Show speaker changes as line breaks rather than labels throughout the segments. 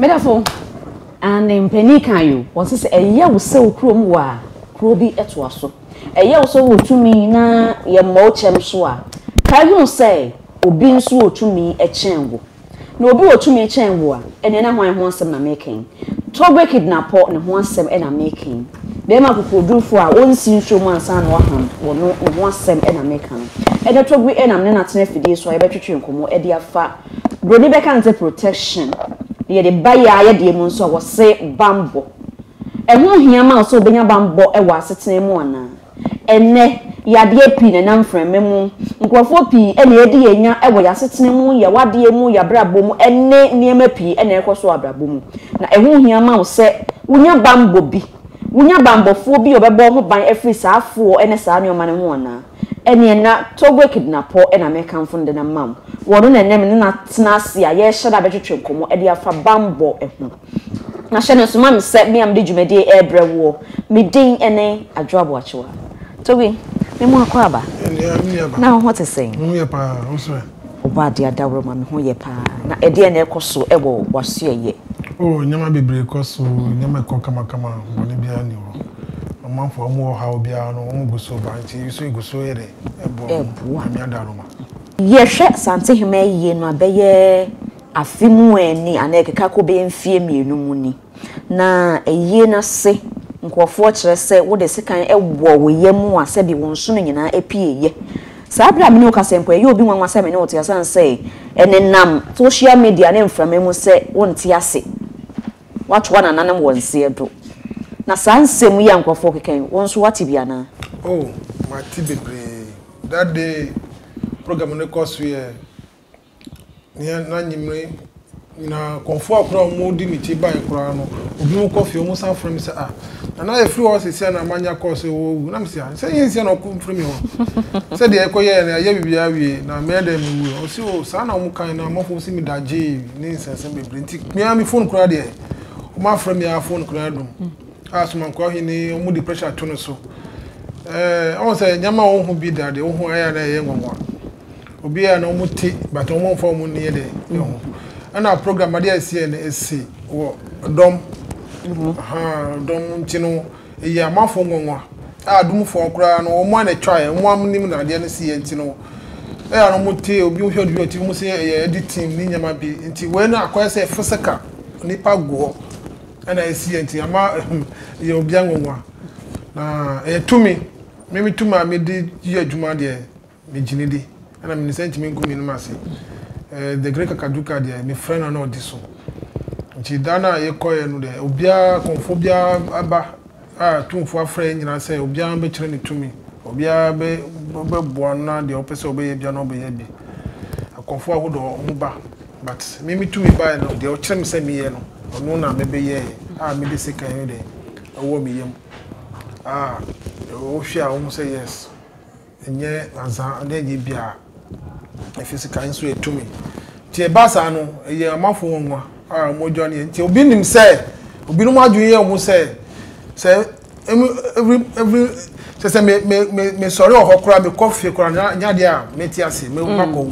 medafo ne mpanin kan yi wɔsi sɛ ɛyɛ wo sɛ okurom wɔ a kuro bi ɛtoa so ɛyɛ wo sɛ wɔ tumi na yɛ mmɔ kyɛm so a kaa hunu sɛ obi nso wɔ tumi ɛkyɛn wo. Na obi wɔ tumi kyɛn wo a, ɛnneɛ na hwan ho asɛm na mereka yi? Togbe kidnapɔ no ho asɛm na mereka yi. Barima akokoɔdurufoɔ a ɔnsi nsuo mu ansa na waham wo no ne ho asɛm na mereka no. Ɛnnɛ Togbe na me ne no atena afidie so a yɛbɛtwetwe nkɔmmɔ de afa Buroni bɛka no sɛ protection na yɛde ba yɛn ayɛdeɛ mu nso a, wɔse bammɔ. Ɛho hia ma wo sɛ wobɛnya bammɔ wɔ asetena mu anaa? Ɛnnɛ, yadeɛ pii na ɛnam mframa mu. Nkorɔfoɔ pii na yɛadi yɛn nya wɔ yɛn asetena mu, yɛn awadeɛ mu, yɛn abrabɔ mu ne nneɛma pii na ɛrekɔ so wɔ abrabɔ mu. Na ɛho hia ma wo sɛ wonya bammɔ bi. Wonya bammɔfoɔ bi a ɔbɛbɔ wo ho ban afiri saa afoɔ ne saa nneɛma no ho anaa? Ɛnneɛ na Togoe Kedinapɔ na merekamfo no denam ma wo. Ɔno na ɛnnɛ me ne no atena ase a yɛrehyɛ da bɛtwetwe nkɔmmɔ de afa bammɔ ho. Na hyɛ no nso ma me sɛ me a mede dwumadie yi rebrɛ woɔ, me din ne Adwoa Boakyewa. Togi, me mu akwaaba, na wo ho te sɛn? Me ho yɛ paa, wo nso ɛ?
Ɔbɔadeɛ Adaworoma,
me ho yɛ paa. Na ɛdeɛn na ɛrekɔ so wɔ w'asoɛeɛ? Oh, nneɛma bebree
kɔ so, nneɛma ɛkɔ kamakama, bɔne biara nni hɔ. Ɔmanfoɔ a wɔwɔ ɔhaw biara no, wɔgu so ba, nti nso yɛgu so yɛ dɛn? Ɛboa wɔn, Nyame Adaworoma. Yɛhwɛ
Asantehene ayie no a, bɛyɛ Afe mu ɛ ni anaa ɛkeka kɔ bɛyɛ mfeɛ mmienu mu ni, na ayie no ase nkurɔfoɔ kyerɛ sɛ wode sekan wɔ wo yam a sɛbi wo nsono nyinaa apueeɛ. Saa berɛ a me ne wo kasa yi mpo, ɛyɛ obi nwanwa sɛ me ne wo te asiane sɛ ɛnenam social media ne mframa mu sɛ wonte ase, woatoa nananom wɔ nseɛ do. Na saa nsɛm yi a nkurɔfoɔ rekeka yi, wo nso woate bi anaa? Oh,
mate bebree. That day program no kɔ so yɛ Nea na anwummere nyinaa nkurɔfoɔ a koraa wɔdi me akyi baeɛ koraa no, ebinom kɔ fie wɔsan frɛ me sɛ ah nana yɛfiri hɔ sisi a na manya call sɛ wɔawu na mesi ah sɛ yɛ nsia na ɔko mfiri me hɔ sɛ deɛ ɛkɔ yɛɛ no ayɛ biribiara wie na mɛyɛ dɛ mewu ɛ ɔsi o saa na wɔn kan na amafo si me da gyee ne nsɛnsɛm bebree nti mea me phone koraa deɛ wɔn afrɛ me a phone koraa dum a somankwa hene wɔn de pressure to no so ɛɛ wɔn sɛ nyɛma wɔn ho bi da deɛ wɔn ho ayɛ na ɛyɛ nwanwa. Obi a na ɔmo te but ɔmo nfa ɔmo nneɛ dɛ ɛho. Ɛna program adeɛ a ɛsiɛ no ɛsi wɔ dɔm ahaa dɔm nti no ɛyɛ amanfoɔ nwanwa a adomfoɔ koraa no ɔmo a na ɛtwaeɛ ɔmo a nim na adeɛ no siɛ nti no ɛyɛ a na ɔmo te obi hwɛ ɔde ɔte ɔmo se ɛyɛ editing ne nneɛma bi nti wei no akɔyɛ sɛ physical nipa gu hɔ ɛna ɛsiɛ nti ama ɛyɛ obia nwanwa na ɛyɛ tumi me me tumi a mede yɛ adwuma deɛ. Megye no di. Ɛna menim sɛ ntumi ngu mmienum ase. Ɛɛ the great kakaduka deɛ me frɛ no na ɔdi so. Nti da no a yɛkɔɛ no deɛ obiara kɔnfo biara aba a tumfo afrɛ yɛn nyinaa sɛ obiara bɛkyerɛ ne tumi. Obiara bɛ bɛboa no na deɛ ɔpɛ sɛ ɔbɛyɛ biara na ɔbɛyɛ bi. Akɔnfo ahodoɔ ɔmo ba but me me tumi baeɛ no deɛ ɔkyerɛ me sɛ me yɛ no ɔno na me bɛyɛɛ a me de sekan no deɛ ɛwɔ me yam a wohwɛ a wohu sɛ yes. Nnyɛ adza ɔda edzi biara, efi sika yi so yɛ tumi. Ntsi eba saa no, eyɛ ɔmafo nwanwa a mbɔdua no yɛ. Ntsi obi nim sɛ, binom adwen yɛ hɔn sɛ, sɛ emi every every sɛ sɛ me me me mesɔre wɔ hɔ koraa mekɔ fie koraa no nnyɛ adeɛ a mɛte ase, mɛ makɔ hɔ.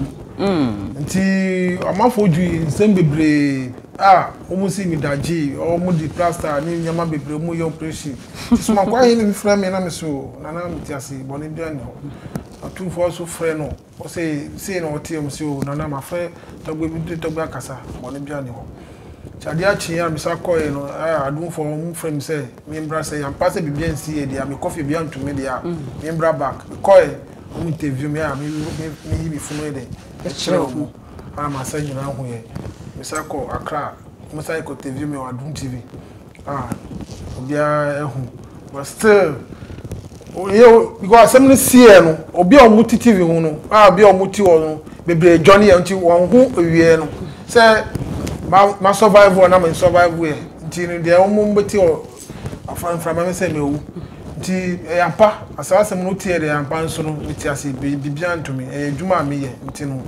Nti ɔmafo dwi nsɛm bebree a wɔn si mi da gyee, wɔn de plaster ne nneɛma bebree wɔn yɛ operation. Somankwa ahe na ebi frɛ me na mese o, Nana mete ase, bɔne biara nni hɔ. Atumfoɔ nso frɛ no, ɔse sei na ɔteɛ mu se o, Nana mafrɛ Tagbo, ebi de Tagbo akasa, bɔne biara nni hɔ. Nti adeɛ akyeeɛ a mesan kɔeɛ no, ah, Adumfoɔ wɔfrɛ me sɛ membra sɛ yɛampaa sɛ biribi ansi yɛ deɛ a, mekɔ fie biribi anto me deɛ a, membra back. Mekɔeɛ, wɔn interview me a, me me meyi me funu yɛ dɛn, mekyerɛ wɔn a m'asa nyinaa huiɛ. Mesan kɔɔ Accra, wɔsan kɔ interview me wɔ Adum TV. Ah obiara ehu but still oyɛ because asɛm no siiɛ no obi a wɔn ti tv ho no a obi a wɔn ti hɔ no bebree dwane yɛ nti wɔn ho awieɛ no sɛ ma ma survive wɔ na ma survive yɛ nti no deɛ wɔn bɛ ti hɔ aframframa mi sɛ ma ewu nti ɛyɛ ampa asaa asɛm no tiɛ deɛ ampa nso no mi ti ase biribi a ntumi ɛyɛ adwuma a mi yɛ nti no.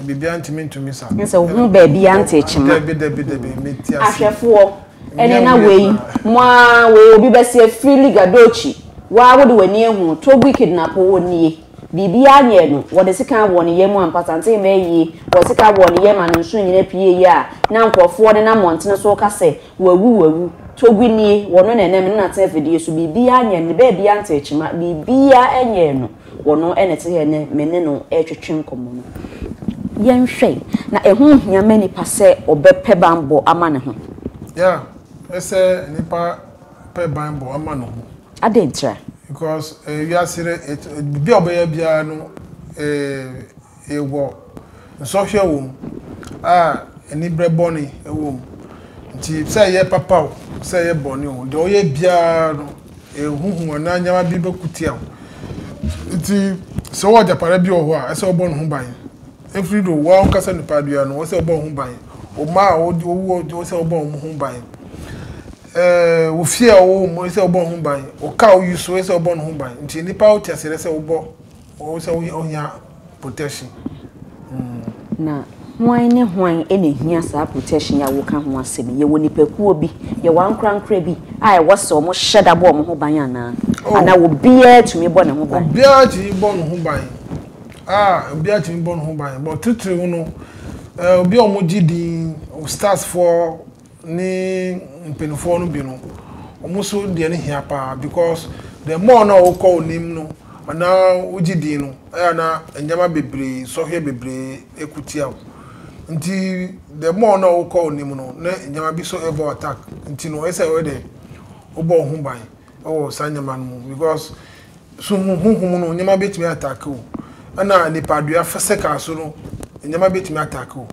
biribiara ntumi nto me sa. Nsɛ wo ho baabi a
nte kyema. Dabi dabi dabi mm.
meti ase. Ahwɛfoɔ ɛne
na wei mo a wei obi bɛsi afiri liga dochi waa wode w'ani ehu togui kidnapo onie biribiara nyɛ no wɔde sika abɔ ne yam ampata nte mɛ yie wɔde sika abɔ ne yam a ne nso nyina pie yie a na nkurɔfoɔ ne na mmɔntene so ka sɛ wawu wawu togui nie wɔno na ɛnam ne nate afidie so biribiara nyɛ no ne baabiara nte kyema biribiara nyɛ no. Wɔn na ɛte sɛ ɛnnɛ me ne no retwetwe nkɔmmɔ no. Yɛnhwɛ, na ɛho nhia ma nipa sɛ ɔbɛpɛ banbɔ ama ne ho? Yeah,
ɛsɛ sɛ nipa pɛ banbɔ ma ne ho. Adɛn ntira?
Because
wiase no, biribi a ɔbɛyɛ biara no, eh. Ewɔ nsɔhwɛ wɔ mu a, aniberɛ bɔne wɔ mu. Nti sɛ ɛyɛ papa o, sɛ ɛyɛ bɔne o, deɛ woyɛ biara no, huhu anaa nneɛma bi bɛko tia wo. Nti sɛ wowɔ agyapadeɛ bi wɔ hɔ a, ɛsɛ sɛ wobɔ ne ho ban. Ɛfiri do, wo ara wokasa nipa biara no, ɛsɛ sɛ wobɔ wo ho ban. Wo mma a wowɔ, ɛsɛ sɛ wobɔ wɔn ho ban. Ɛɛ wo fie a wowɔ mu, ɛsɛ sɛ wobɔ wo ho ban. Wo car a woyi so, ɛsɛ sɛ wobɔ ne ho ban. Nti nnipa a wote aseɛ no, ɛsɛ sɛ wobɔ. Ɔwɔ sɛ ɔnya protection.
Na hwan ne hwan na ehia saa protection yi a woka ho asɛm yi? Yɛwɔ nnipakuo bi, yɛwɔ ankorankora bi a ɛwɔ sɛ wɔhyɛ da bɔ wɔn ho ban anaa? Anaa obiara tumi bɔ ne ho ban? Obiara tumi bɔ ne ho
ban. Ah, obiara tumi bɔ ne ho ban. But titiriw no, obi a wɔgye din, stars foɔ, ne mpaninfoɔ no bi no wɔn nso deɛ no hia paa because the more na wokɔ onim no anaa wogye din no ɛyɛ na nneɛma bebree nsɔhwɛ bebree ɛku tia wo nti the more na wokɔ onim no na nneɛma bi so ɛbɔ attack nti no ɛsɛ ɔyɛ dɛ wobɔ wo ho ban wɔ saa nneɛma no mu because so hu honhom no nneɛma betumi atake wo ɛna nipadua physical so no nneɛma betumi atake wo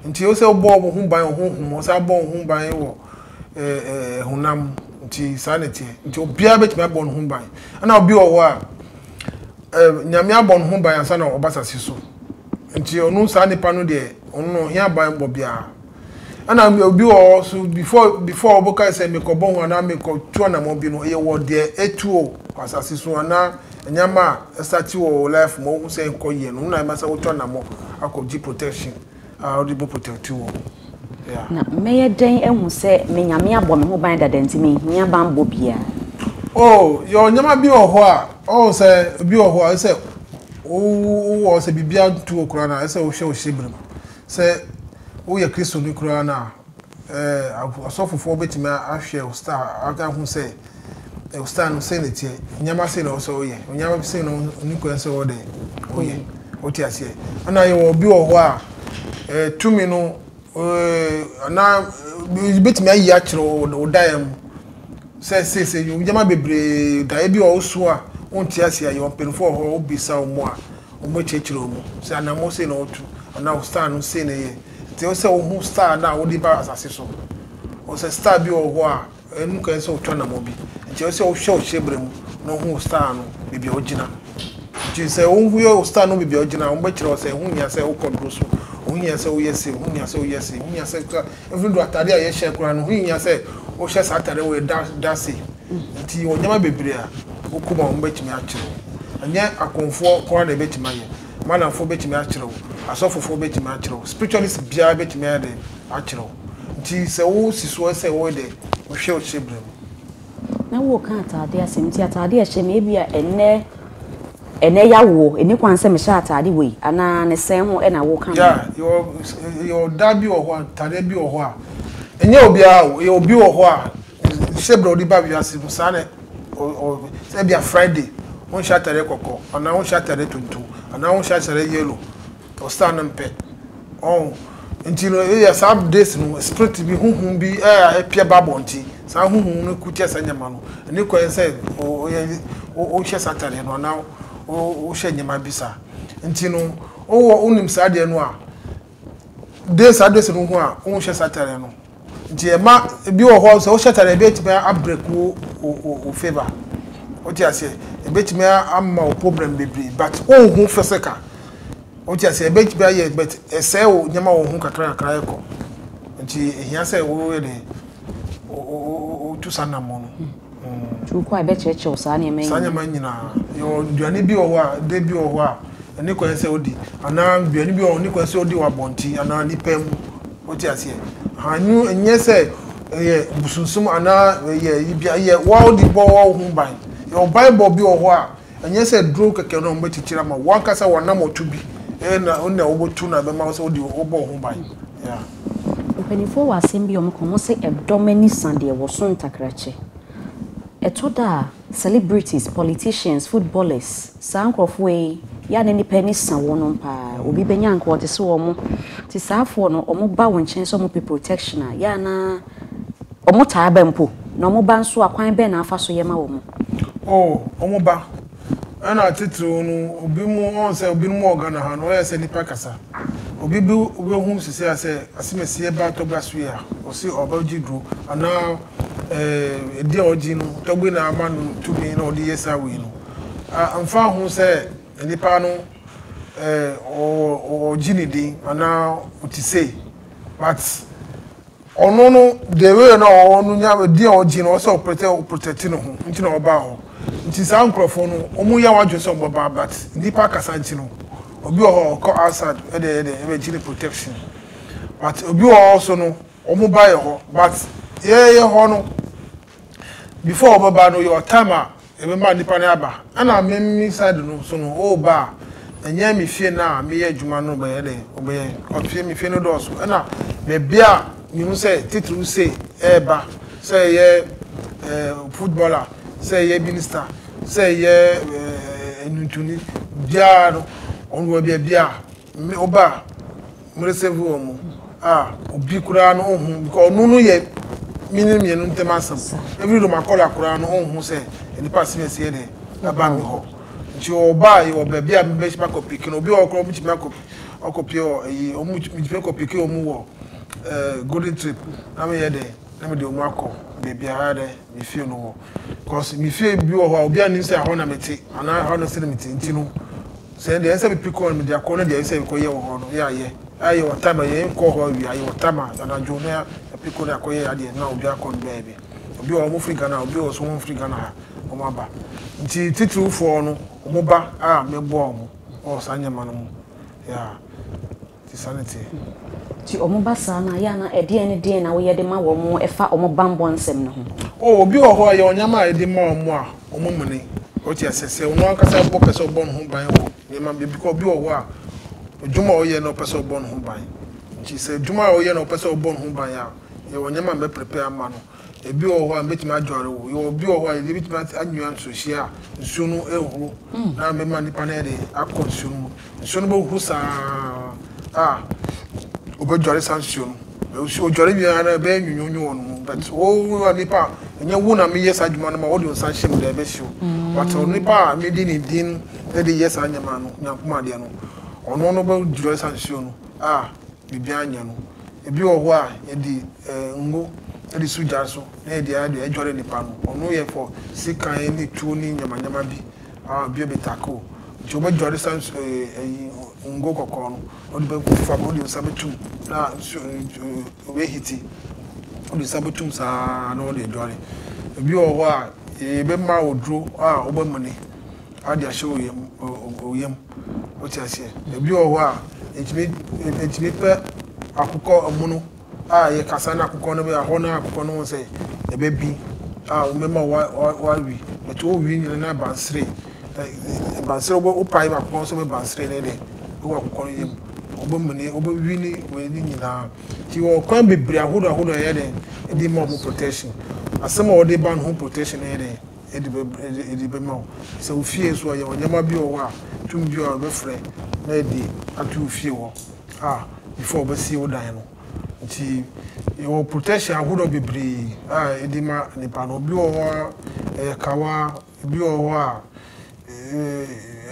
nti ɛwɔ sɛ wobɔ wo ho ban wɔ honhom mu ɔsɛ abɔ wo ho ban wɔ ɛɛ honam nti saa na ɛteɛ nti obiara betumi abɔ ne ho ban ɛna obi wɔ hɔ a ɛɛ nyame abɔ ne ho ban ansa na ɔba sase so nti ɔno saa nipa no deɛ ɔno no ɔhia ban bɔ biara Ɛna obi wɔ hɔ so before before ɔbɔ kae sɛ mekɔbɔ ho anaa mekɔtu anamɔ bi no ɛyɛ wɔ deɛ ɛtu o wɔ asase so anaa nneɛma a ɛsate wɔ wɔ life mu ɔhu sɛ nkɔ yɛ no na ɛma sɛ wotu anamɔ akɔgye protection a wode bɛ protect wɔ ho. Na mɛyɛ dɛn
ahu sɛ me Nyame abɔ me ho ban dada nti menhia banbɔ biara? Oh,
yɛwɔ nneɛma bi wɔ hɔ a ɔwɔ sɛ obi wɔ hɔ a ɛsɛ wowɔ sɛ biribiara ntu wɔ koraa na ɛsɛ wohwɛ wo hyɛbrɛ mu. Sɛ woyɛ Kristoni koraa no a, ɛɛ, asɔfofoɔ bɛtumi ahwɛ wo star, ahu sɛ wo star no sɛ na ɛteɛ, nneɛma sɛ na ɔsɛ woyɛ, nneɛma sɛ na ɔni kwan sɛ wɔde woyɛ, mm. wote aseɛ. Ɛna yɛwɔ obi wɔ hɔ a, ɛɛ, tumi no, ɛɛ, anaa bɛtumi ayi akyerɛ wo daeɛ mu sɛ seesei nneɛma bebree daeɛ bi wɔ wo so a wonte aseɛ a, yɛwɔ mpanimfoɔ wɔ hɔ a wobisa wɔn a Wɔbɛkyerɛkyerɛ wo mu sɛ anammɔn sei na wotu anaa wo style no sei na ɛyɛ. Nti ɛwɔ sɛ wohu style no a wode ba asase so. Wohu sɛ style bi wɔ hɔ a ɛno kwan sɛ wotu anammɔn bi. Nti ɛwɔ sɛ wohwɛ wo hyɛbrɛ mu na wohu wo style no baabi a wogyina. Nti sɛ wohwɛ wo style no baabi a wogyina a, wɔbɛkyerɛ wo sɛ ɛho hia sɛ wokɔ duro so, ɛho hia sɛ woyɛ sei, ɛho hia sɛ woyɛ sei, ɛho hia sɛ, even though atadeɛ a yɛhyɛ koraa no, ɛho hia sɛ wohyɛ saa atadeɛ wei da da sei. Nti wɔ nneɛma bebree a wokɔ mu a wɔbɛtumi akyere wo. Ɛnyɛ akonfoɔ nko ara na ɛbɛtumi ayɛ. Madamfoɔ bɛtumi akyere wo. Asɔfofoɔ bɛtumi akyere wo. Spiritualist biara bɛtumi ayɛ dɛn akyere wo. Nti sɛ wosi soɔ sɛ woyɛ dɛn wohwɛ wo hyɛbrɛ mu. Na
woreka ataadeɛ asɛm nti ataadeɛ a ɛhyɛ me ebia ɛnnɛ ɛnnɛ yawoɔ ɛnni kwan sɛ mehyɛ ataade wei anaa ne sɛn ho na woreka no. Yeah yɛwɔ
yɛwɔ da bi wɔ hɔ a ntaadeɛ bi wɔ hɔ a ɛnyɛ obiara o yɛwɔ bi wɔ hɔ a Hyɛ berɛ a wode ba wiase mu saa na sɛ ebia Friday wonhyɛ atadeɛ kɔkɔɔ anaa wonhyɛ atadeɛ tuntum anaa wonhyɛ atadeɛ yellow ɔstar no mpɛ ɔn nti no eya saa days no spirit bi huhum bi a ɛpia ba bɔ nti saa huhum no kutia saa nyama no ɛne kwan sɛ ɔyɛ wohyɛ saa atadeɛ no anaa wohyɛ nyama bi saa nti no wowɔ wonim saa deɛ no a de saa dress no ho a, wonhyɛ saa atare no. Nti ɛma ebi wɔ hɔ sɛ wohyɛ atare ebi atumi abreak wo wo favor. Wote aseɛ? Ebetumi ama wo problem bebree but wonhu physical. Wote aseɛ? Ebetumi ayɛ but ɛsɛe wo nneɛma wɔ ho kakra kakra ɛkɔ. Nti ehia sɛ woyɛ dɛ wotu saa anammɔn no. Nti wokɔ a
ɛbɛkyerɛkyerɛ wo saa nneɛma nyinaa. Saa nneɛma
nyinaa. Yɛwɔ nnuane bi wɔ hɔ a, de bi wɔ hɔ a, ɛne kwan sɛ wodi. Anaa nnuane bi wɔ hɔ a, ɛne kwan sɛ wodi wɔ abɔnten anaa nipa mu. Wote aseɛ? Aha, ɛno ɛnyɛ sɛ ɛyɛ bosonsom anaa ɛyɛ, ɛyɛ wo ara wode bɔ wo ho ban. Yɛwɔ banbɔ bi wɔ hɔ a, Ɛnyɛ sɛ duro kɛkɛ na wɔbɛkyekyere ama wo. W'ankasa w'anam ɔto bi na wo na wobɛtu na ɛbɛma wo sɛ wode wobɔ wo ho ban. Yeah. Mpanimfoɔ
wɔ asɛm bi a wɔka, wɔse ɛdɔm ani sa deɛ wɔso ntakrakyɛ. Ɛtɔ da a celebrities, politicians, footballers, saa nkorɔfoɔ yi yɛ a na nnipa ani sa wɔnom paa. Obi bɛnya anka ɔte sɛ wɔn. Nti saafoɔ no wɔba wo nkyɛn sɛ wɔpɛ protection a, yɛ a na Wɔtaa ba mpo, na wɔba nso a, kwan bɛn na afa so yɛ ma wɔn? Oh, wɔba.
Ɛna atitiriw no, obi mu, wɔn sɛ obinom wɔ Ghana ha no, wɔyɛ sɛ nnipa kasa. Obi bi wobɛhu sisi a sɛ asimasiɛ ba Tɔgba so yi a, ɔse ɔbɛgye duro, anaa eh, adi a ɔgye no, Tɔgbe na ama no tumi na ɔde yɛ saa wei no. Ah, ɛmfa ho sɛ nnipa no eh, ɔgye ne din, anaa ɔte sei, but Ɔno no the way na ɔwɔ no nya din a ɔgye no ɔwɔ sɛ ɔprotɛ ɔprotɛte ne ho nti na ɔbaa hɔ nti saa nkorɔfoɔ no ɔmo yɛ wadwene sɛ ɔmo bɛba but nnipa akasa nti no obi wɔ hɔ a ɔkɔ outside ɛde ɛyɛ dɛn ɛbɛgye ne protection but obi wɔ hɔ nso no ɔmo ba yɛ hɔ but yɛɛyɛ hɔ no Before ɔbɛba no your time a yɛbɛma nipa no aba ɛna me me side no so no ɔreba a ɛnyɛ me fie no a meyɛ adwuma no bɛyɛ dɛn ɔbɛyɛ because fie me fie no dɔɔso ɛna baabi a mehu sɛ titiriw sei ɛreba sɛ ɛyɛ eh, footballer sɛ ɛyɛ minister sɛ ɛyɛ eh, nnwontoni biara no ɔno wɔ baabi a Me oba a mere save wɔn mo a obi koraa no ohun because ɔno no yɛ me ne mmienu ntɛm asɛm even though makɔla koraa no ohun sɛ nipa serious yɛ dɛ ɛba me hɔ nti ɔba a yɛ wɔ baabi a mebɛhyɛ makɔ piki no obi wɔ hɔ koraa ɔmo tumi akɔ ɔkɔ pie wɔ ɛyi ɔmo metumi akɔ piki ɔmo wɔ ɛɛ golden trip na meyɛ dɛ na mede ɔmo akɔ baabi a dɛ. me fie no hɔ cause me fie bi wɔ hɔ a obiara nnim sɛ ɛhɔ na mete anaa ɛhɔ no sɛdeɛ mete nti no sɛ deɛ ɛyɛ sɛ mepi kɔ no mede akɔ na deɛ ɛyɛ sɛ mekɔyɛ wɔ hɔ no yɛayɛ ayɛ wɔ time a yɛnkɔ hɔ awia ayɛ wɔ time a anadwo na yɛapi kɔ na akɔyɛ adeɛ no na obiara kɔ no baabi obi wɔ hɔ wɔn firi Ghana obi wɔ so wɔn firi Ghana ha wɔn aba nti titirifoɔ no wɔn ba a mɛboa wɔn wɔ saa nneɛma no mu yeah. te saa no te. Nti ɔmo
ba saa no a, yɛ a na ɛdeɛn ne deɛn na woyɛ de ma wɔn ɛfa ɔmo banbɔ nsɛm no ho? Oh, obi wɔ hɔ a,
yɛwɔ nneɛma a yɛde ma wɔn a wɔn mene. Wote aseɛ? Sɛ ɔno ankasa mpo pɛ sɛ ɔbɔ ne ho ban wɔ nneɛma bi, ebi koraa obi wɔ hɔ a, adwuma a ɔyɛ no ɔpɛ sɛ ɔbɔ ne ho ban. Nti sɛ adwuma a ɔyɛ no ɔpɛ sɛ ɔbɔ ne ho ban a, yɛwɔ nneɛma a mɛprepare ama no. Ebi wɔ hɔ a mɛtumi adware wo. Yɛwɔ obi wɔ hɔ a yɛde bɛtumi ate anwea nsuhyia a nsuo no ehuru na mɛma nipa no ayɛ dɛ akɔ nsuo no mu. Nsuo no bɛhuru saa a ɔbɛdware saa nsuo no. Nsuo ɔdware wie ara ɛbɛyɛ nwonwonwo wɔ ne ho but wo nipa a ɛnyɛ wo na meyɛ saa adwuma no ma wode wo nsa hyɛ mu dɛ ɛbɛsi o. But onipa a mede ne din de yɛ saa nneɛma no Nyankopɔn adeɛ no ɔno no bɛdware saa nsuo no a biribiara nyɛ no. Ebi wɔ hɔ a yɛde ngo de so gya so na yɛde ayɛ deɛ ɛdware nnipa no. Ɔno yɛ for sekan ne tuo ne nyamanyama bi a obi abɛtake o. Nti wobɛdware saa nsu ɛɛ ayi ngo kɔkɔɔ no na wode bɛgu fam na wode nsa bɛto mu na nsuo no ɛbɛhiti. Wode nsa bɛto mu saa na wode adware. Ebi wɔ hɔ a yɛbɛma wo aduro a wobɛmene. Ɔde ahyɛ wo yam, wo yam. Wote aseɛ? Ebi wɔ hɔ a, etumi, etumi pɛ akokɔ amono a yɛkasa na akokɔ no bɛyɛ hɔ na akokɔ no ho sɛ ɛbɛbi a wɔbɛma wa, wa, wawe. Ɛto wo wie nyina na abansere. Abansere wobɛ, wopae ma akokɔ no sɛ abansere ne dɛ. Wɔ akokɔ no yam. Wobɛmene, wobɛwi ne wei ne nyinaa. Nti wɔ kwan bebree ahodoɔ ahodoɔ ɛyɛ dɛn, ɛde ma wɔn protection. Asɛm a wɔde ba no ho protection no yɛ dɛn. de bɛ de de bɛma wo. Sɛ wo fie nso a, yɛwɔ nneɛma bi wɔ hɔ a, tum bi a wɔbɛfrɛ na yɛde ato wo fie hɔ a before wɔbɛsie wo dan no. Nti yɛwɔ protection ahodoɔ bebree a yɛde ma nnipa no. Ebi wɔ hɔ a, ɛyɛ kawa, ebi wɔ hɔ a,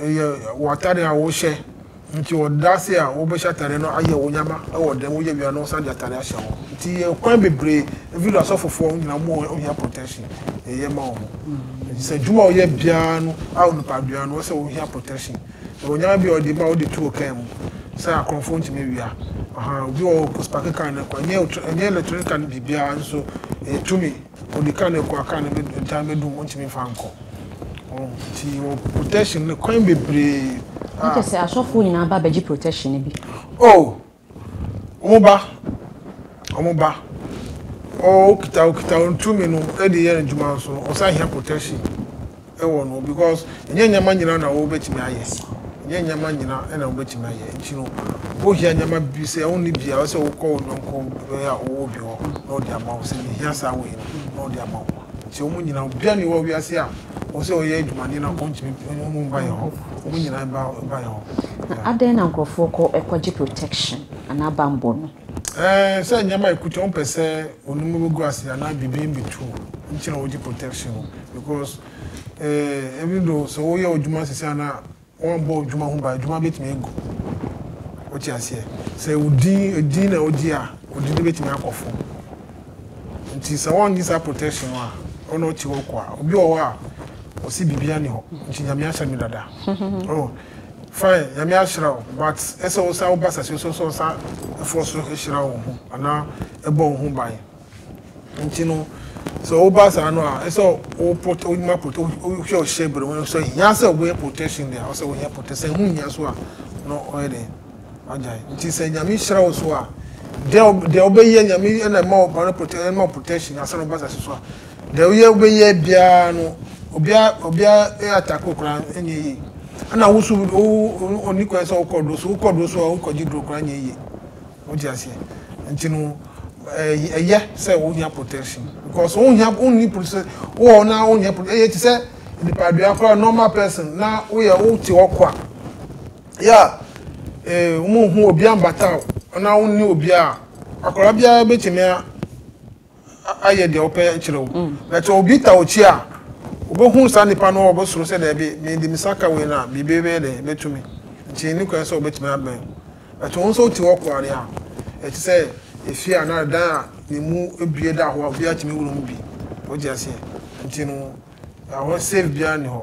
ɛyɛ w'atade a wohyɛ nti ɔda ase a wobɛhyɛ atade no ayɛ wo nyama wɔ dɛm woyɛ wia no wosan de atade ahyɛ ho nti yɛ kwan bebree even though asɔfofoɔ wɔn nyinaa mu ohia protection yɛyɛ ma wɔn nti sɛ adwuma a ɔyɛ biara no a onipadua no ɔsɛ ohia protection yɛ wɔ nyama bi a ɔde ma ɔde tu ɔkan mu sɛ akorɔmfoɔ ntumi wia ɔhan obi wɔ ɔspake kan no kɔ ɛnyɛ ɛnyɛ electronic kan biribiara nso ɛyɛ tumi. Ɔde car no rekɔ a car no gya no bɛdum ɔntumi mfa nkɔ nti wɔ protection no kwan bebree. Na kyɛ sɛ
asɔfoɔ nyinaa ba bɛgye protection no bi. Oh wɔn ba wɔn ba ɔkita ɔkita ntumi no ɛde yɛ adwuma nso ɔsan hia protection. wɔ
no because ɛnyɛ nneɛma nyinaa na wobɛtumi ayɛ ɛnyɛ nneɛma nyinaa ɛna wobɛtumi ayɛ nti no wohia nneɛma bi sɛ wonni bi a wɔ sɛ wokɔ wo nyɔnko bɛyɛ a ɔwɔ bi hɔ na ɔde ama wo sɛ mehia saa wei no na ɔde ama wo nti wɔn nyinaa obiara ni wɔ wiase a wɔ sɛ ɔyɛ adwumani na ɔntumi ɔmo mba yɛ hɔ wɔn nyinaa ba ba yɛ hɔ. Na adɛn na nkurɔfoɔ
kɔ kɔgye protection anaa bammɔ no? Ɛɛ sɛ nyɛma
ekuta wɔn pɛ sɛ onum no bɛgu ase anaa biribi mbɛtu wɔn nti na wɔgye protection no because ɛɛ even though sɛ woyɛ odwuma sisi ana wɔnbɔ odwuma ho ban edwuma bɛtumi egu wote aseɛ sɛ odin edin na ogye a odin no bɛtumi akɔ fam nti sɛ wɔngye saa protection no a ɔna ɔte hɔ kɔ a obi wɔ hɔ a ɔsi biribi ani hɔ nti nyame ahyɛ no dada ɔn. Fine Nyame ahyira wo but ɛsɛ wo san woba sase so nso wo san ɛfɔ so ɛhyira wo ho anaa ɛbɔ wo ho ban nti no sɛ wo ba saa no a ɛsɛ wo protect wo ma protect wo hwɛ wo hyɛ bere wo sɛ hia sɛ wo yɛ protection deɛ ɔsɛ wo yɛ protect sɛ ho hia so a no ɔyɛ deɛ wagya nti sɛ Nyame hyira wo so a deɛ deɛ ɔbɛyɛ Nyame ɛna ɛma wo ba no protect ɛma protection asan wo ba sase so a Deɛ woyɛ wobɛyɛ biara no obia obia attack wo koraa ɛnyɛ yie ɛna wo so ɔni kwan sɛ wokɔ duro so wokɔ duro so a wokɔgye duro koraa nyɛ yie wote aseɛ nti no ɛyɛ sɛ wonya protection because wonya wonni protection wowɔ na wonya protection ɛyɛ te sɛ nipadua koraa normal person na woyɛ wote hɔ kwa yɛ a wɔn ho obi ambata wo na wonni obi a akwadaa biara bɛtumi a ayɛ deɛ wopɛ akyerɛ wo mm. but obi ta okyi a wobɛhu saa nipa no wɔbɛsoro sɛ daabi mede me saka wei no a biribi bɛyɛ dɛ bɛtumi nti ne kwan sɛ wobɛtumi abɛn but wo nso wote hɔ koa deɛ a ɛte sɛ ɛfie a na dan a ne mu bie da hɔ a obi atumi wura mu bi wogye aseɛ nti no ɛhɔ safe biara nni hɔ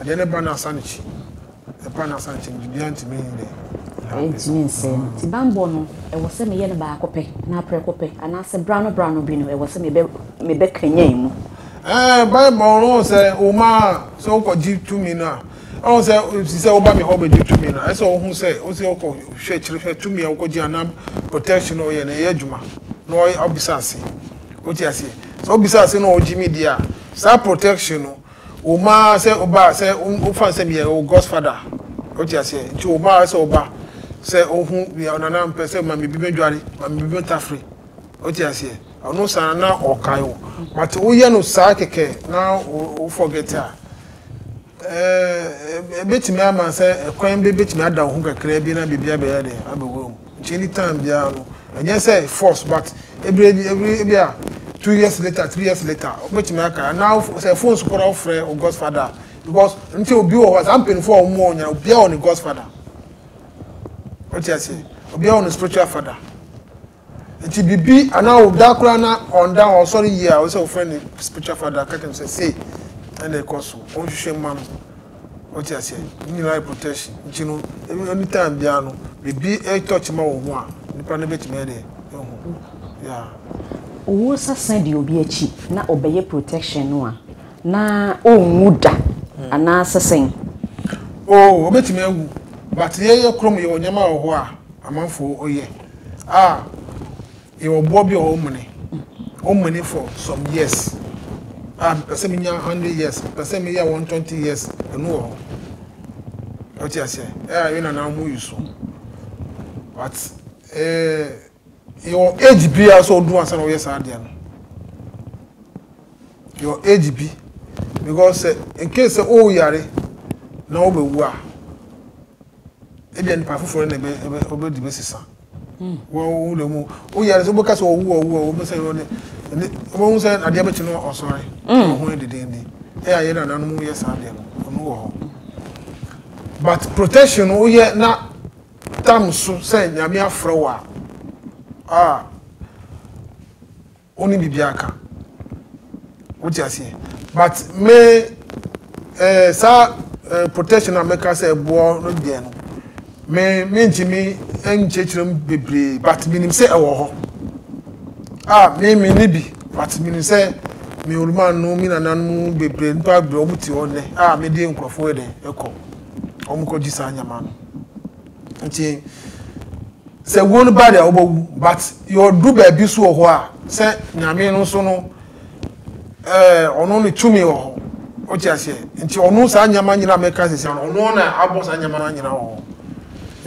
Adeɛ no ba no asa no kyi. Ɛba no asa no kyi no, biribiara ntumi nyɛ. Ɛntumi
nsɛe no. Nti bammɔ no, ɛwɔ sɛ meyɛ no baako pɛ, anaa prɛko pɛ, anaasɛ berano berano bi no, ɛwɔ sɛ mebɛ, mebɛkanyan mu. Ɛɛ, Bible
no, wohu sɛ, woma, sɛ wokɔgye tumi no a, wohu sɛ, te sɛ woba me hɔ bɛgye tumi no a, ɛsɛ sɛ wohu sɛ, wo sɛ wokɔ hwɛ akyiri hwɛ tumi a wokɔgye anaa protection no woyɛ no, ɛyɛ adwuma, na wobisa ase. Wote aseɛ? Sɛ wobisa ase na wɔgye me die a, saa protection no, Wo ma sɛ wo ba sɛ wo fa sɛ meyɛ wo godfather wote aseɛ nti wo ma sɛ wo ba sɛ wo ho meyɛ wo nana mpɛ sɛ ma me bi mɛdware ma me bi mɛtafere wote aseɛ ɔno saa na ɔkae wo but woyɛ no saa kɛkɛ na wo forget a ɛbɛtumi ama sɛ ɛkwan bɛtumi ada wo ho kakra bi na biribi abɛyɛ dɛ abɛwura mu. Nkyɛ any time biara no ɛnyɛ sɛ force but ɛberɛ bi ɛberɛ bi a two years later three years later wobɛtumi aka anaa sɛ phone so koraa wofrɛ wo godfather a because nti obi wɔ hɔ saa mpanyinfoɔ a wɔn wɔ nya obiara wɔ ne godfather wote aseɛ obiara wɔ ne spiritual father nti bibi anaa ɔda koraa na ɔnda hɔ ɔsɔre yie a wɔsɛ wofrɛ ne spiritual father ka kyɛm sɛ sei ɛna ɛkɔ so wɔnhwehwɛ mma no Wo te aseɛ? Ne nyinaa yɛ protection nti no any time biara no biribi retouch ma wo ho a nipa no bɛtumi ayɛ deɛ ahu yeah. Wo
sa sa di obi akyi na ɔbɛyɛ protection no a na ɔnwu da anaa sɛ sɛn? Oh
ɔbɛtumi awu but yɛn yɛ krom yɛwɔ nneɛma wɔ hɔ a amanfoɔ yɛ a. Yɛwɔ boɔ bi a ɔmene, ɔmene for some years. A mepɛ sɛ menya hundred years, mepɛ sɛ meyɛ one twenty years, ɛno wɔ hɔ. Ɔte aseɛ, ɛyɛ yɛ nana mo yi so. But ɛɛ yɛwɔ age bi a sɛ ɔdu ansa na ɔyɛ saa adeɛ no. Yɛwɔ age bi because in case sɛ ɔyare na ɔbɛwu a. Ebia nnipa foforɔ na ɔbɛdi bɛsesa wɔn wura mu woyɛ ade sɛ wobɛka sɛ ɔwu ɔwu a wɔbɛ sɛ ɔne wɔbɛhu sɛ adeɛ bɛkyi no ɔsɔre ɔho yɛ dedenden ɛyɛ ayɛ na nanom yɛ saa deɛ no ɔno wɔ hɔ but protection no woyɛ na tam so sɛ nyame afrɛ wo a a Wonni biribi aka. Wote aseɛ? But me eh, saa eh, protection a mɛka sɛ ɛboɔ no deɛ no, me mentumi nkyerɛkyerɛ mu bebree but menim sɛ ɛwɔ hɔ. A ah, me me ne bi but menim sɛ me oluma no me nananom bebree nipa bebree wɔn ti hɔ nnɛ a ah, mede nkurɔfoɔ yɛ dɛ ɛkɔ wɔn kɔ gye saa nyama no. Nti sɛ wuo no ba deɛ wobɛwu but yɛɔdu baabi so wɔ hɔ a sɛ nyame no nso no ɔno ne tumi wɔ hɔ wote aseɛ nti ɔno saa nneɛma nyina mɛka sisi ano ɔno na abɔ saa nneɛma nyina wɔ hɔ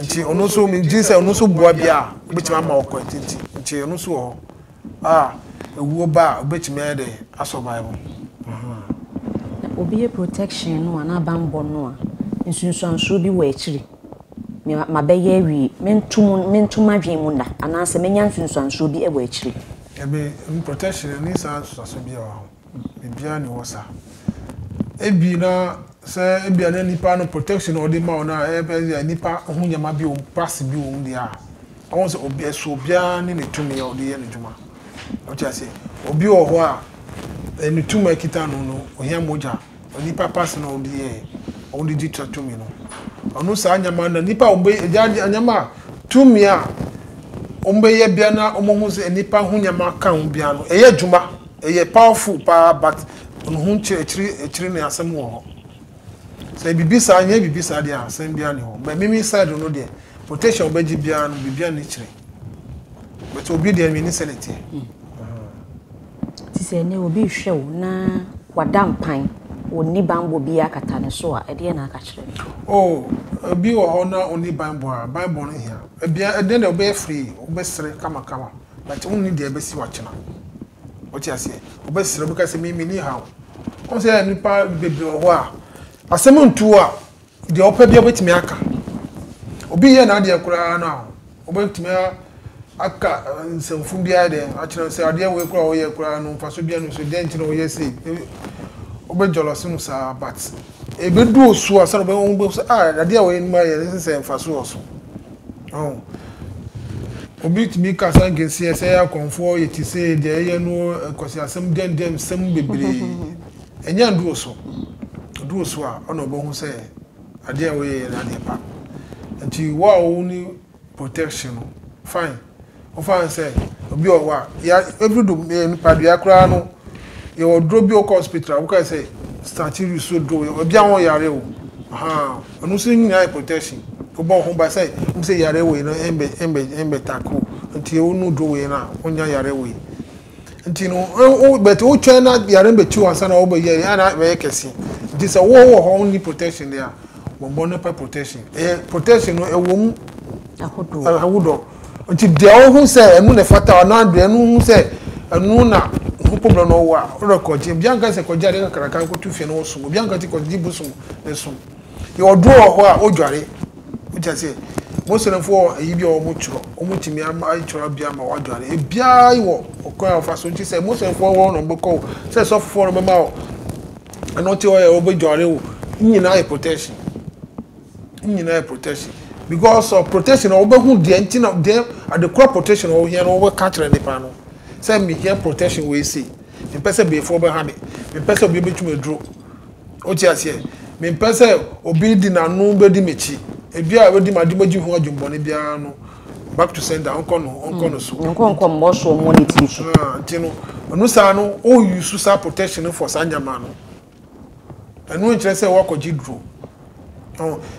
nti ɔno nso megye sɛ ɔno nso boa bi a wobɛtumi ama ɔkɔ nti nti ɔno nso wɔ hɔ a ewuo ba a obetumi ayɛ dɛn a survive ho?
Obi yɛ protection no a na banbɔ no a nsunsuansoɔ bi wɔ akyiri me mabɛyɛ awie mento mu mento madwene mu nna anaasɛ mɛnya nsunsuansoɔ bi wɔ akyiri. Dabi
protection no nni saa nsunsuansoɔ biara wɔ ho. Biribiara nni hɔ saa. Ebi na sɛ ebi a na nipa no protection a ɔde ma wo na ɛbɛ yɛ nipa ho nneɛma bi wɔm prase bi wɔm deɛ a ɔho sɛ obi ɛso obiara ne ne tumi a ɔde yɛ ne dwuma ɔte aseɛ obi wɔ hɔ a ɛne tumi a ɛkita no no ohia mogya Onipa pa so na wɔn de yɛ wɔn de di tra tumi no. Ɔno saa nneɛma na nipa a wɔbɛ gya nneɛma a tumi a wɔbɛyɛ bia na wɔhu sɛ nipa ho nneɛma ka ho bia no ɛyɛ adwuma ɛyɛ powerful paa but ɔno ho nkyerɛ akyiri akyiri ne asɛm wɔ hɔ sɛ bibi saa nyɛ bibi saa deɛ asɛm bia ne hɔ but mimi side no deɛ protection wɔbɛgye bia no bibia ne kyerɛ but obi deɛ mini sɛ ne teɛ.
Te sɛ nnɛ obi rehwɛ wo na wada mpan, ɔnni banbɔ biara akata ne so a, ɛdeɛn na aka kyerɛ no? Oh, obi
wɔ hɔ na ɔnni banbɔ a, banbɔ no hia. Ebia ɛnnɛ deɛ wobɛyɛ free, wobɛsere kamakama, but wonni deɛ ɛbɛsi wo akyena. Wote aseɛ? Wobɛsere, wobɛka sɛ me menni haw. Wohu sɛ nnipa bebree wɔ hɔ a, asɛm ntu wo a, Deɛ ɔpɛ biara ɔbɛtumi aka. Obi nyɛ n'adeɛ koraa no a, ɔbɛtumi aka nsɛmfunu biara de akyerɛ no sɛ adeɛ wei koraa a ɔyɛ koraa no mfaso biara no so dɛn nti na ɔyɛ sei. Ɔbɛ jealous no saa but ɛbɛdu osuo a sɛdeɛ ɔbɛhu bɛhu sɛ ah adeɛ wei no mayɛ no sɛ mfaso wɔ so. Oh. Obi tumi ka saa nkenseɛ sɛ akɔmfoɔ yɛ te sɛ deɛ ɛyɛ no kwasiasɛm dɛndɛnsɛm bebree. Enya nduru so, oduru so a ɔna obohu sɛ adeɛ a woyɛ yɛ no adeɛ pa. Nti wo a wo ni protection no fine, wo fa no sɛ obi ɔwɔ a, ya ɛduru do yɛ nipa dua koraa no yɛwɔ duro bi wokɔ hospital a woka sɛ start use so duro yɛ obi a ɔyare o, ahaa ɛno nso nyinaa yɛ protection wobɔ wo ho ba sɛ hu sɛ yare wei no ɛmbɛ ɛmbɛ ɛmbɛ tackle nti wo nu duro wei no a wonya yare wei. nti no wo but wo twɛn na yare no bɛkyi ansa na wɔbɛyɛ yɛ ana bɛyɛ kɛse nti sɛ wo wɔ hɔ wonni protection deɛ a bɔmmɔ no pɛ protection ɛyɛ protection no ɛwɔ mu ahodoɔ nti deɛ wohu sɛ ɛno na ɛfata anaa deɛ ɛno hu sɛ ɛno na ho problem na ɔwɔ a wodɔ kɔgye obi anka sɛ kɔgye adeɛ kakraka nkɔto fie na wɔsom obi anka sɛ kɔgye bosom na ɛsom Yɛwɔ duro wɔ hɔ a wodware. Wote aseɛ? Muslimfoɔ wɔ ayi bi a wɔtwerɛ. Wɔtumi ama atwerɛ bi ama woadware. Ebiara wɔ ɔkwan a wɔfa so nti sɛ Muslimfoɔ hɔ na wɔbɛkɔ o, sɛ sɔfofoɔ na wɔbɛma wo ɛno te hɔ yɛ wɔbɛdware o, ne nyinaa yɛ protection. Ne nyinaa yɛ protection. Because of protection na wɔbɛhu deɛ nti na deɛ adekorɔ protection a wɔhia no wɔbɛka akyerɛ nipa no. Sɛ mehia protection wei sei. Mempɛ sɛ beefoɔ bɛha me. Mempɛ sɛ obi bɛtwi me duro. Wote aseɛ? Mempɛ sɛ obi de n'ano bɛdi m'akyi. Ebi a wadi m'ade mogye ho adwemmɔne biara no, back to sender, ɔnkɔ no, ɔnkɔ no so. Ɔnkɔ nkɔ mmɔ so, ɔmmɔ
ne tiri so. Ah, nti no, ɛno
saa no, wo use saa protection no for saa nneɛma no. Ɛno nkyerɛ sɛ woakɔgye duro.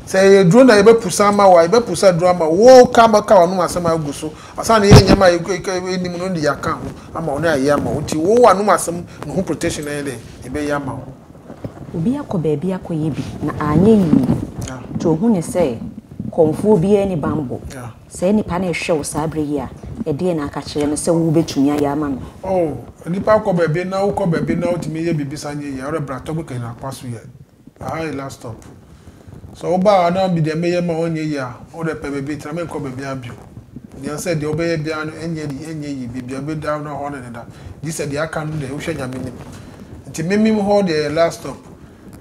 Sɛ yɛyɛ duro na yɛbɛpusa ama wo a, yɛbɛpusa duro ama wo. Woka bɛka w'anom asɛm a agu so. Asa na yɛyɛ nneɛma a yɛnim no de yɛaka ho ama wo na yɛayɛ ama wo. Nti wo w'anom asɛm no ho protection na yɛyɛ dɛn? Yɛbɛyɛ ama wo. Obi akɔ
baabi akɔyɛ bi na anyɛ yie nti ɔhu no sɛ kɔmfoɔ biara nni bammɔ. Saa nipa no rehwɛ wo saa berɛ yi a, ɛdeɛn na aka kyerɛ no sɛ wobɛtumi ayɛ ama no? Oh, nipa kɔ baabi
na wokɔ baabi na wotumi yɛ biribi san yɛ yie a, worebra tɔgbekɛ na akɔ aso yɛ. Ahaa Ella stop sɛ woba a na medeɛ meyɛ ma wo nyɛ yie a wodɛ pɛ baabi tra menkɔ baabiaa bio Nea sɛ deɛ wobɛyɛ biaa no ɛnyɛ ni ɛnyɛ yie baabia wobɛda no hɔ ne deda gyesɛ deɛ aka no deɛ wohwɛ Nyame nim nti memem hɔ deɛ yɛ last stop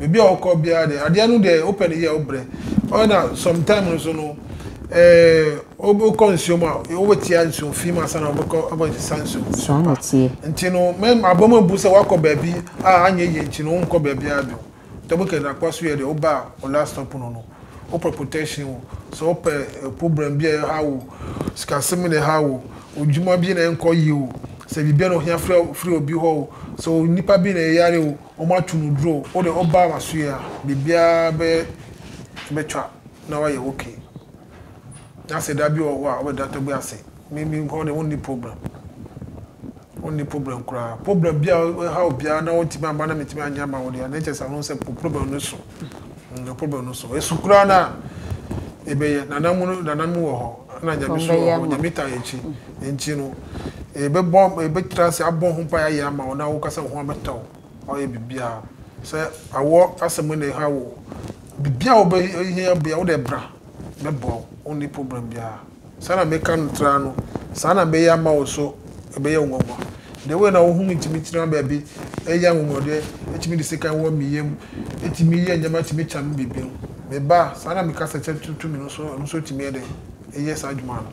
baabi a wokɔ biaa deɛ adeɛ no deɛ wopɛ no yɛ wobrɛ ɔyɛ na sometime no so no wobɛkɔ nsuo mu a wobɛtia nsuo fi mu ansa na wobɛkɔ abɛsesa nsuo mu saa na ɛteɛ
nti no
abɔ mu abu sɛ woakɔ baabi a anyɛ yie nti no wonkɔ baabi a bio dɛ wokɛ na akwa so yɛ deɛ woba a wo last stop no no wopɛ protection o sɛ wopɛ problem bi a ɛha wo sikasɛm bi na ɛha wo odwuma bi na ɛnkɔ yie o sɛ biribi na ohia firi obi hɔ o sɛ onipa bi na ɛyare o wɔn ato no duro o wode woba ama so yɛ a biribiara bɛyɛ bɛtwa na wayɛ ok na sɛ dabi wɔ hɔ a wobɛ da tɛgbe ase me me nkɔɔ deɛ wo nni problem wo nni problem koraa problem bia ɛha obiara na wɔntumi ama na metumi anyɛ ama wo deɛ na ɛkyɛ sɛ ano sɛ po problem no so no problem no so ɛsu koraa no a ɛbɛyɛ nana mu no nana mu wɔ hɔ na nyame so wɔ hɔ nyame ta akyi nti no ɛbɛbɔ ɛbɛtra ase abɔ ho mpa yɛ ama wo na wo kasa ho abɛtɔ Ɔyɛ biribiara o. Sɛ awɔ asɛm mu na ɛha wo o, biribiara a wobɛhia biara wode bra, mɛboa wo, wonni problem biara. Saa na meka no tra no, saa na mɛyɛ ama wo so ɛbɛyɛ wo nwanwa. The way na wo ho tumi tena baabi, ɛyɛ anwonwadeɛ, ɛtumi de sekan wɔ me yam, ɛtumi yɛ nneɛma, ɛtumi kyɛ me biribi no, me ba a, saa na mekasa kyɛ to me no so, ɛno nso tumi yɛ dɛn? Ɛyɛ saa adwuma no.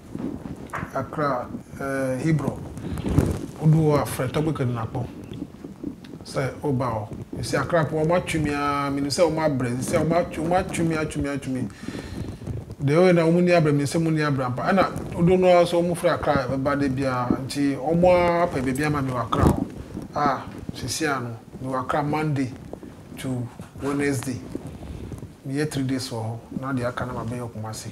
akra Hebron wodu hɔ a frɛ Tɔgbe Kadunakpo sɛ woba hɔ. Mesi akra po wɔn atwe me ara menim sɛ wɔn abrɛ sisi a wɔn atwe wɔn atwe me atwe me atwe me deɛ wɔyɛ na wɔn ni abrɛ menim sɛ wɔn ni abrɛ ampa ɛna dodo no ara so wɔn firi akra ɛba de biara nti wɔn apɛ baabi ama me wɔ akra hɔ a sisi a no me wɔ akra Monday to Wednesday meyɛ three days wɔ hɔ na deɛ aka no ma bɛyɛ wɔ Kumasi.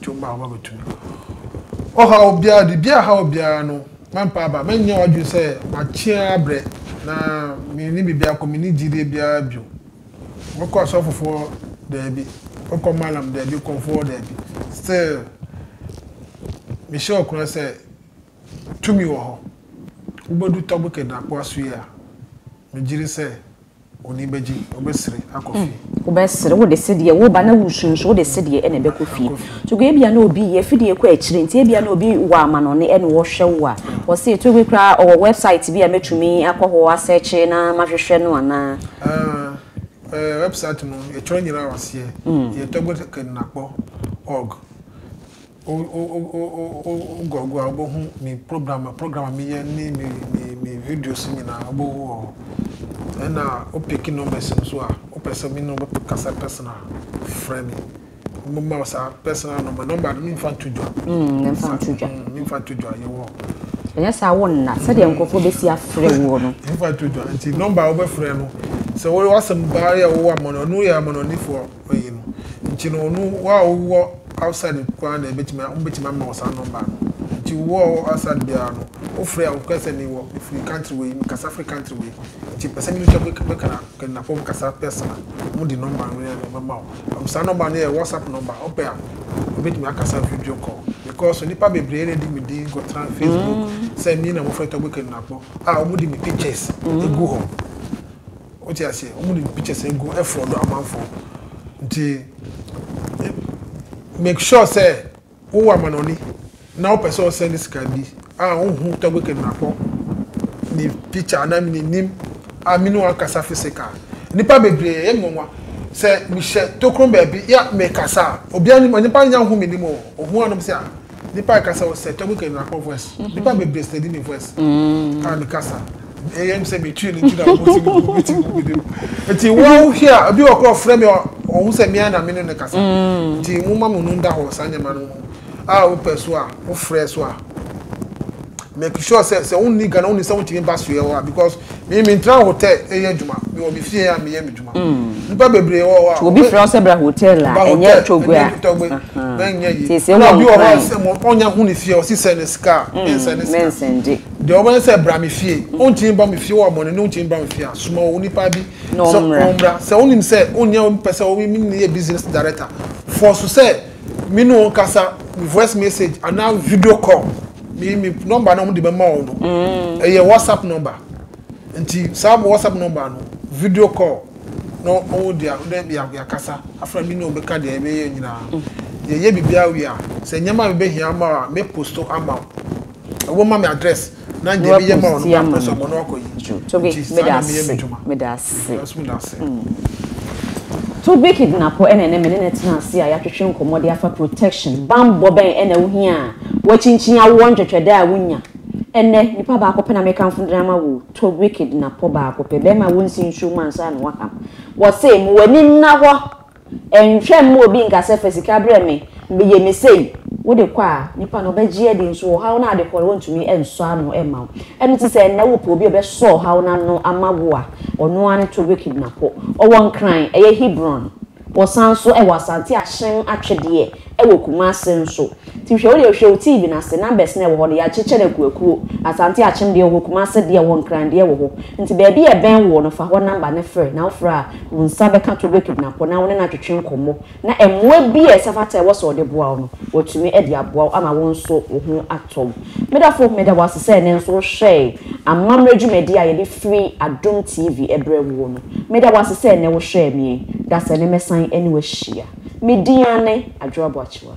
Dwom a wɔbɛto no. Ɔhaw biara, biribiara a ɛhaw wo biara no, mɛmpa aba. Mɛnyɛ w'adwene sɛ makye ara abrɛ, na menni biribiara kɔ, menni gyidie biara bio. Wobɛkɔ asɔfofoɔ? Daabi. Wobɛkɔ Mallam? Daabi. Kɔmfoɔ? Daabi. Still, mehyɛ wo nkuran sɛ tumi wɔ hɔ. Wobɛdu Togo Kɛdɛn Akoa so yi a, megyiri sɛ. W'ani bɛgye, wobɛsere akɔ fie. Wobɛsere, wode
sedeɛ, wo ba na woresu nso wode sedeɛ na ɛbɛkɔ fie. Togo ebia na obi yɛ fidie rekɔ akyire nti ebia na obi wɔ amanɔne ɛna ɔrehwɛ wo a, wɔse Togo koraa ɔwɔ website bi a mɛtumi akɔ hɔ asɛɛkye na mahwehwɛ no anaa? Aah, website
no yɛtwerɛ nyinaa wɔ aseɛ, ɛyɛ togokenakpɔ org. Woguagua a, wobɛhu me program program a meyɛ ne me me me videos nyinaa wobɛhu wɔ hɔ. Ɛna wo pick numbers no nso a, wopɛ sɛ me ne wo bɛkasa personal a, frɛ me. Mɛma wo saa personal number. Number no memfa nto dwa. Mm, memfa nto dwa. Mm, memfa nto dwa, yɛwɔ hɔ. Ɛnyɛ saa wo
nna sɛdeɛ nkurɔfoɔ bɛsi afrɛ woɔ no. Memfa nto dwa. Nti
number a wobɛfrɛ no, sɛ wowɔ asɛm baa yɛ wowɔ amɔne, ɔno yɛ amɔnɔnifoɔ. ɔyɛ no nti no ɔno wo a wo wɔ outside nko ara na ɛbɛtumi a wɔn bɛtumi ama wɔ saa number no nti wo wɔ wɔ outside biara no wo frɛ a wo kɛ sɛ mi wɔ mi firi country wei mi kasa firi country wei nti pɛ sɛ mi nso bɛ bɛ kana kɛnɛnafo bɛ kasa pɛsɛn a wɔn de number no yɛ ɛbɛ ma wo saa number no yɛ whatsapp number wo pɛ a wo bɛtumi akasa video call because nipa bebree na di mi din kɔ tena facebook mm. sɛ mi na mo fɛ tɔ bɛ kɛnɛnafo a wɔn de mi pictures mm. egu hɔ. Wote aseɛ? Wɔn de pictures no gu ɛfrɔdo amanfoɔ nti make sure sɛ wowɔ amanɔne na wopɛ sɛ ɔsɛn ne sika bi a wohu tɔgbe kidnapɔ ne picture anaa me n'anim a me ne wɔn akasa physical nipa bebree ɛyɛ nwanwa sɛ mehyɛ tokron baabi ya mekasa a obiara nim nipa nya ho me nim o ohun anom sɛ a. Nipa kasa wɔ sɛ tɔmu kɛnyina kɔ voice. Nipa bebree sɛ di mi voice. Ah mi kasa. Ɛyɛ mi sɛ mi twi ni nti na ɔmo si mi gu mi ti gu mi de mu. Nti wɔn hia obi wɔ kɔ ɔfrɛ mi ɔho sɛ mi a na mi no ne kasa. Nti mo ma mo nu nda hɔ saa nyɛma no ho. Ah o pɛ so a o frɛ so a. make sure sɛ sɛ wonni ghana wonni sɛ wontumi ba soɛ hɔ a because me mentra hotel ɛyɛ adwuma mewɔ me fie a meyɛ me adwuma mm. nnipa bebree wɔ hɔ a obi frɛ sɛ bra
hotel a ɛnyɛ togbe a mɛnyɛ
yi ɛna obi wɔ hɔ a
sɛ ɔnya
ho ne fie ɔsi sɛ ne sika a mm, mensɛ ne sika
deɛ ɔbɛyɛ sɛ
bra me fie mm. wontumi ba me fie wɔ abɔne ne wontumi bra me fie a soma wɔ nipa bi sɛ ɔmmra sɛ wonim sɛ wonya mpɛ sɛ wopɛ sɛ woyɛ business director fɔ so sɛ me ne wɔn kasa voice message anaa video call me me number na wɔn de bɛ ma wɔn no mm. ɛyɛ whatsapp number nti saa whatsapp number no video call na wɔn de dɛ yakasa afra mi na wɔn bɛka deɛ ɛbɛyɛ nyinaa mm. yɛyɛ biribi awie a sɛ nneɛma mi bɛ hia ama a mɛ posto ama wɔn ma mi address. Nuapo sia ma no dwo Tobi meda
ase meda ase mm Tobi kidnapo ɛna ɛnɛ me ne no tena ase a yɛatwetwe nkɔmmɔ de afa protection bammɔ bɛn ɛna wo hia a wakyinkyin awoɔ ntwɛtwɛdɛ a wo nya ɛnɛ nipa baako pɛ na me kamfo de ama wo Tobi kidnapo baako pɛ bɛrima wo nsi nsuo mu ansa na waham wɔse mo w'ani nna hɔ Nhwɛ mma obi nka sɛ, Fa sika brɛ me, meyɛ me sei. Wode kɔ a, nipa no ɔbɛgye adi, nso ɔhaw no a wode kɔ no, ɔrentumi nsɔ ano mma wo. Ɛno nti sɛ nnɛ wopɛ obi a ɔbɛsɔ ɔhaw no ano ama wo a, ɔno ara ne Tobit Kidnapɔ. Ɔwɔ Nkran, ɛyɛ Hebron. Wɔsan nso wɔ Asante Ahyem atwedeɛ wɔ Kumase nso. Nti hwɛ, wodeɛ hwɛ wo TV no ase, numbers no a ɛwɔ hɔ no, yɛakyekyɛ no akuakuo. Asante Akyem deɛ wɔ hɔ, Kumase deɛ wɔ hɔ, Nkran deɛ wɔ hɔ. Nti baabi a ɛbɛn woɔ no, fa hɔ number no frɛ. Na wofrɛ a, Wo nsa bɛka to obekidnapfo na wo ne no atwetwe nkɔmmɔ, na mmoa bi a ɛsɛ fata a ɛwɔ sɛ ɔde boa wo no, watumi de aboa wo ama wo nso wo ho atɔ wo. Me dɔfo, meda wo ase sɛ ɛnnɛ nso wohwɛe amammerɛ dwumadi a yɛde firi Adom TV brɛ woɔ no. Meda wo ase sɛ ɛnnɛ wohwɛɛ me. Da sɛ ɛnnɛ mɛsan ne wo ahyia. Me din ara ne Adwoa Boakyewa.